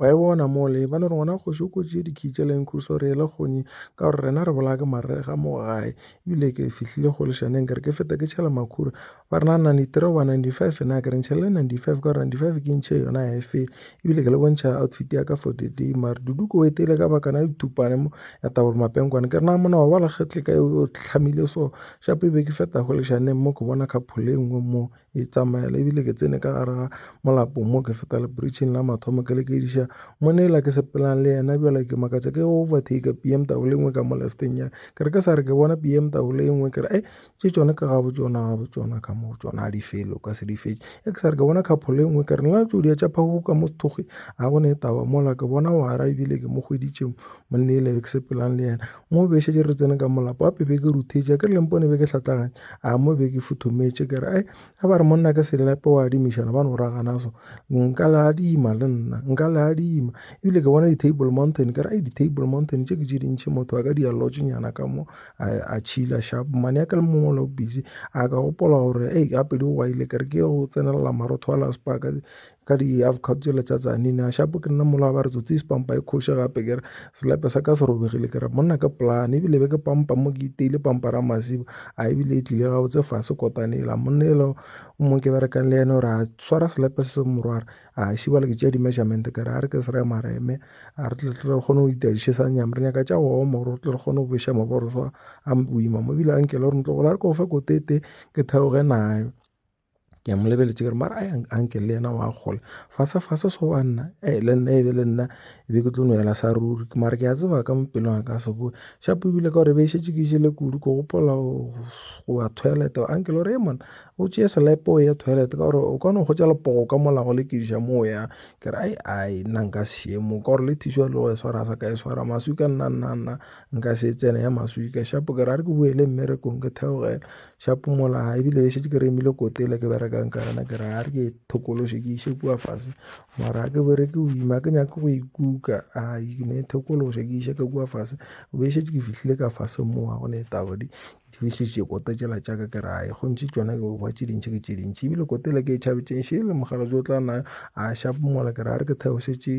Wa e bona mole, ba no re ngwana kgoši o kotši dikitša la inkhusa re ele kgonyi ka gore rena re bolaya ke marega mo gae. Ebile ke fihlile go leshaneng ke re ke feta ke tšhela makhura. Ba re na 93 oba 95 na ke re ntšhelele 95 ka gore 95 ke ntšhe yona ya efe. Ebile ke le bontšha outfit ya ka for the day mare dudu ko etile ka bakana ya dithupane mo ya tabolo mapenkwane ke re na mona wa ba lekgetle ka o tlhamile so shape be ke feta go leshaneng mo ke bona khaphole nngwe mo Ke itsamaela ebile ke tsene ka gare ga molapo mo ke feta le bridging la mathomo ke lekediša monela ke sepelang le yena bjale ke makatša ke overtake bmw le nngwe ka mo lefteng ya ke re ke sa re ke bona bmw le nngwe ke re e tše tsone ka gabo tsona gabo tsona ka mo tsona a di fele o ka se di fetše e ke sa re ke bona kgapho le nngwe ke re nna tšo dia tša phago ka mo sethoge a go ne e taba mola ke bona wara ebile ke mo hweditše monela ke sepelang le yena Mo be šetše re tsene ka molapa wa pebe ke ruthetša ke re lempone be ke hlatlaganya a mo be ke futhometše ke re ai a ba re monna ke selelape wa adimišana ba no ragana so nka le adima le nna nka le adima ebile ke bona di-table mountain ke re ai di-table mountain tše ke tše dintšhi motho a ka di alotšenyana ka mo a tšhila sharp mane ya ke le mongwe lo busy a ka gopola gore ei gape di go ile ke re ke go tsenelela marotho a laspaka ka di half cut tšela tša tsane ne a shapo ke nna mola ba re tsotsi e spampa e khoše gape ke re selepe sa ka se robegile ke re monna ke plan ebile be ke pampa mo ke iteile pampa ra masiba a ebile e tlile ga botse fase kotane ela monna ela o mo ke berekang le ene gore a swara selepe se se morwara a šibala ke tšea di-measurement ka re a re ke se re mareme a re tle tle re kgone go ita dišesang nyam re nyaka tša go oma gore re tle re kgone go bešha maboro swa a boima mo ebile a nkele gore ntlo gola re ko fe ko tete ke theoge nayo ke a mo lebeletse kere mara a nke le yena wa gola fase fase so wa nna e le nna e be le nna e be ke tlo no yela sa ruri ke mara ke a tseba ka mo pelong a ka se boe shapo ebile ka gore be e šetse ke jele kudu ko gopola go ya toilet a nke le gore e mona o tšeye selepe o ye toilet ka gore o kgona go tša lepogo ka molago le kediša mo o yang ke re ai ai nna nka seemo ka gore le thiša le go e swara sa ka e swara maswi ka nna nna nna nka se tsene ya maswi ka shapo ke re a re ke boele mmerekong ke theogela Xa phomola ha ebile be šetše ke remile kote ele ke berekang ka yona ke re a re ke thokološe ke iše kua fase mara ke bere ke boima ke nyake go ikuka a ke ne thokološe ke iše ka kua fase be šetše ke fihlile ka fase mo ga gone taba di di fihlitše kote tšela tša ka ke ra e gontši tšona ke ba tše dintšhi ke tše dintšhi ebile kote ele ke e tšhabetšeng šele mogala jo tla na a xa phomola ke re a re ke theošetše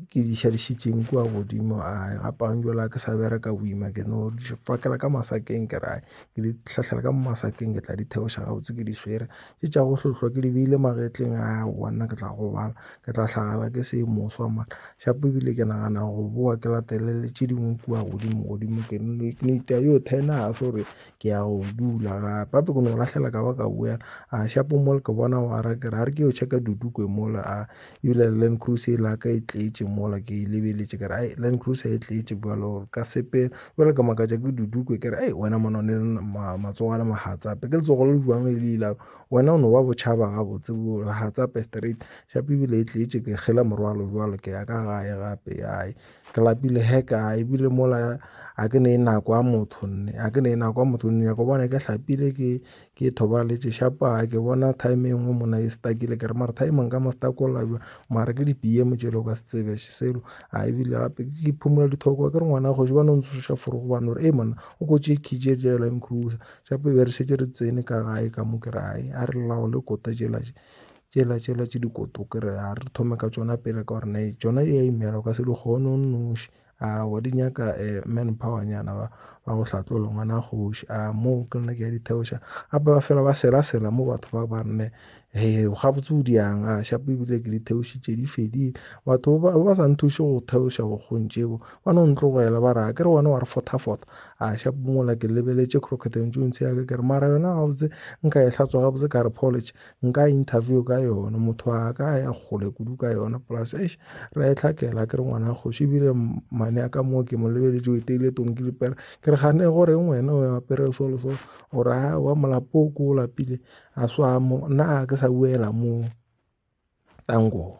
Ke di šadišitšeng kua godimo ae gapang bjale ga ke sa bereka boima ke no di pakela ka masakeng ke ra ke di hlahlela ka mo masakeng ke tla di theoša gabotse ke di swere. Ke tša go hlohlwa ke di beile magetleng aowa nna ke tla gobala ke tla hlagala ke se moswa mara shapo ebile ke nagana go bowa ke latele le tše dingwe kua godimo godimo ke no itia yo ten years gore ke ya go dula gape gape ke no lahlela ka ba ka boela a shapo mole ke bona wa ra ke ra re ke yo checka dudukwe mole a ebile land cruise e la ka e tletše mola ke e lebeletše ke re ai land cruise e tletše bjalo ka sepe bjale ke makatša ke dudukwe ke re ai wena mona ne matsogo a le mahatsape ke letsogo le jwang le ile wena o no ba bochaba ga botse bo hatsape straight shape ebile e tletše ke gela morwalo bjalo ke ya ka gae gape ai Ke lapile he ka ebile mola a ke ne e nako a motho nne a ke ne e nako a motho nne go bona ke hlapile ke ke thoba le tše shapa ke bona time engwe mona e stakile ke re mara time nka mo stakola jwa mara ke di pm tše lo ka se tsebe selo a ebile gape ke phumula dithoko ke re ngwana go jwa no ntse sha furu go bana e mona o go tše khije je la nkrusa shape be re setse re tsene ka gae ka mo ke rai a re lawo le kota je la Tšela tšela tše dikoto ke re a re thome ka tšona pele ka gore na tšona ya imela ka se di kgone o nnoši a wa di nyaka eh, man power nyana ba ba go hlatlola ngwana kgoši a mo ke nna ke ya ditheoša gape ba fela ba sela sela mo batho ba ba rene he ga botse o diang a shapo ebile ke ditheoši tše di fedile batho ba ba sa nthuše go theoša go kgontšebo ba no ntlogela ba ra ke re wena wa re fotha fotha a shapo mola ke lebeletše crocketeng tšontse ya ke re mara yona gabotse nka e hlatswa gabotse ka re polish nka interview ka yona motho a ka ya kgole kudu ka yona plus eish ra e tlhakela ke re ngwana kgoši ebile mane ya ka moo ke mo lebeletše o eteile tong ke lipela ke re gane gore ngwena o apere so le so o ra wa molapo ko o lapile a swa mo nna a ke sa buela mo tango